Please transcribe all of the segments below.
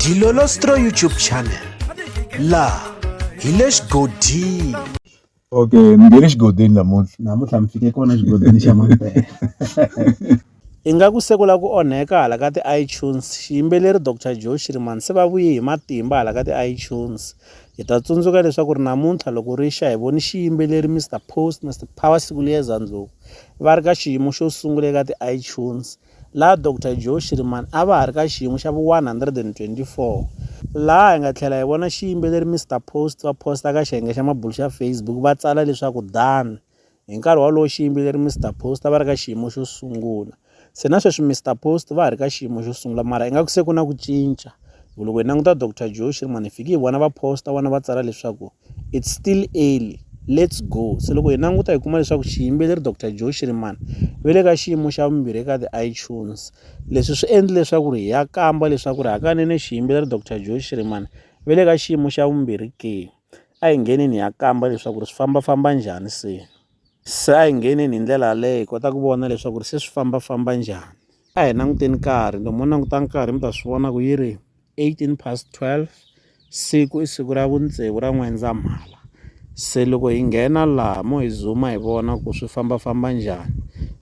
Dilolostro YouTube channel la hi le xigodini okay mi nge le xigodini namuntlha namuntlha mi fike kona xigodini xa mampela ingaku se ku la ku onheka hala ka ti-itunes xiyimbeleri dr joe shiriman se va vuye hi matimba hala ka ti-itunes hi ta tsundzuka leswaku ri namuntlha loko ri xa hi voni xiyimbeleri mr post mr power siku liyeza ndlhuku va ri ka xiyimo xo sungula eka ti-itunes laha Doctor Joe Shirimani a va ha ri ka xiyimo xa vu-124, laha hi nga tlhela hi vona xiyimbeleri Mister Post va posta ka xiyenge xa mabulo xa Facebook va tsala leswaku Dan hi nkarhi wolowo xiyimbeleri Mister Post a va ri ka xiyimo xo sungula. Se na sweswi Mister Post va ha ri ka xiyimo xo sungula mara ingaku se ku na ku cinca hi ku loko hi languta Doctor Joe Shirimani hi fike hi vona va posta vona va tsala leswaku it's still early let's go se loko hi languta hi kuma leswaku xiyimbeleri dr joe shirimani ve le ka xiyimo xa vumbirhi eka ti-itunes leswi swi endle leswaku ri hi ya kamba leswaku ri hakanene xiyimbeleri dr joe shirimani ve le ka xiyimo xa vumbirhi ke a hi ngheneni hi ya kamba leswaku ri swi fambafamba njhani se Se a hi ngheneni hi ndlela yaleyo hi kota ku vona leswaku ri se swi fambafamba njhani a hi languteni nkarhi loko mo languta nkarhi mi ta swi vona ku yi ri 18 past 12 siku i siku ra vundzeu ra n'wendzamhala se loko hi nghena laha mo hi zuma hi vona ku swi fambafamba njhani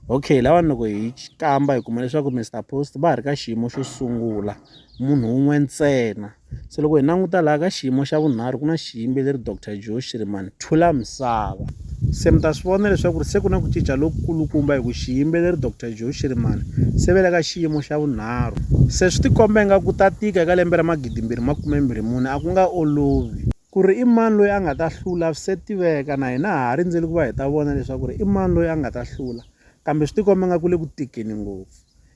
okay lawani loko hi kamba hi kuma leswaku Mister Post va ha ri ka xiyimo xo sungula munhu un'we ntsena se loko hi languta laha ka xiyimo xa vunharhu ku na xiyimbeleri dr joe shirimani thula misava se mi ta swi vona leswaku ri se ku na ku cinca lokukulukumba hi ku xiyimbeleri dr joe shirimani se ve le ka xiyimo xa vunharhu se swi tikomba ingaku ta tika eka lembe ra magidimbirhi makumembirhi mune a ku nga olovi ku ri i mani loyi a nga ta hlula se tiveka na hina ha ha rindzeli ku va hi ta vona leswaku ri i mani loyi a nga ta hlula kambe swi tikomba ingaku le ku tikeni ngopfu